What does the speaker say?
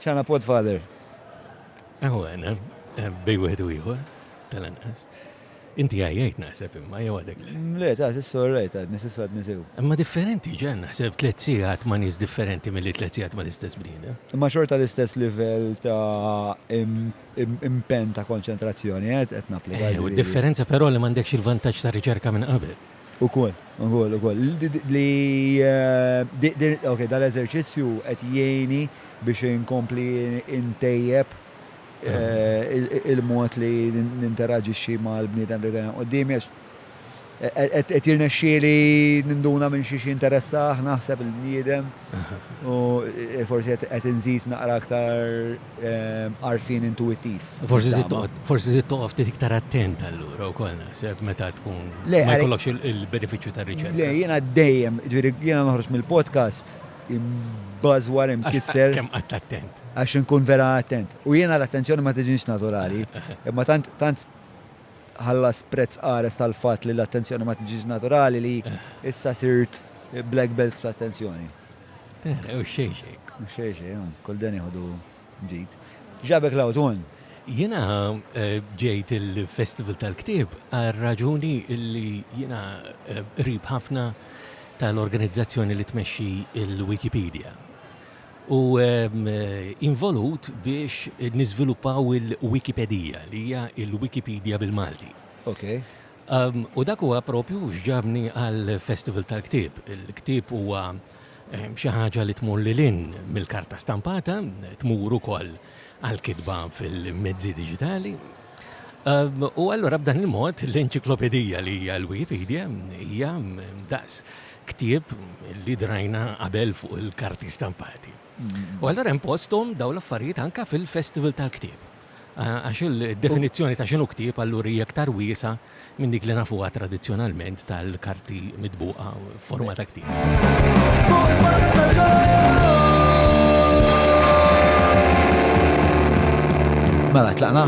Xana podfather. Eħu għana, eh, bej wieħed u ieħor, tal-anqas. Inti għajjajt naħseb imma jew għadek le. Mm, le, ta' sissu rajt għad, nisissu għad nisew. Imma differenti ġen naħseb tliet sigħat ma' nies differenti milli tliet sigħat ma' l-istess bniedem. Imma xorta l-istess livell ta' impen ta' konċentrazzjoni qed napplika. Eh, u differenza però li m'għandekx il-vantaġġ ta' riċerka minn qabel. Ukoll, ukoll, ukoll. Li dal-eżerċizzju qed jgħinni biex inkompli ntejjeb il-mod li ninteraġixxi mal-bniedem li qiegħed quddiemi għax qed jirnexxieli ninduna minn xiex jinteressah naħseb il-bniedem u forsi qed inżid naqra aktar għarfien intuwittiv. Forsi trid toqgħod, forsi trid toqgħod ftit iktar attent allura wkoll naħseb meta tkun Le, ma għalek- jkollokx il- il-benefiċċju Le, tar-riċerka. jiena dejjem, ġviri, jiena noħroġ mill-podcast, imbażwar, imkisser, Kemm qatt attent. għax inkun vera attent. U jiena l-attenzjoni ma tiġinx naturali, imma tant, tant ħallas prezz qares tal-fatt li l-attenzjoni ma tiġinx naturali li issa sirt black belt fl-attenzjoni. Eh, u xejn xejn. U xejn xejn, kull dan jieħdu ġid. Ġabek l-awtun. Jena eh, ġejt il-Festival tal-Ktib għal raġuni illi jena eh, rib ħafna tal-organizzazzjoni li tmexxi il-Wikipedia. U ehm, involut biex niżviluppaw il-Wikipedija li hija il-Wikipedia bil-Malti. Okay. U dak huwa proprju x'ġabni għall-Festival tal-Ktieb. Il-ktieb huwa xi ħaġa li tmur lil hinn mill-karta stampata, tmur ukoll għall-kitba fil-mezzi diġitali. U allura b'dan il-mod l-enċiklopedija li hija l-Wikipedia hija daqs ktieb li drajna qabel fuq il-karti stampati. U allura hemm posthom dawn l-affarijiet anke fil-Festival tal-Ktieb. Għax il-definizzjoni ta' x'inhu ktieb allura hija iktar wiesgħa minn dik li nafuha tradizzjonalment tal-karti mitbuqa f'forma ta' ktieb. Mela, tlaqna?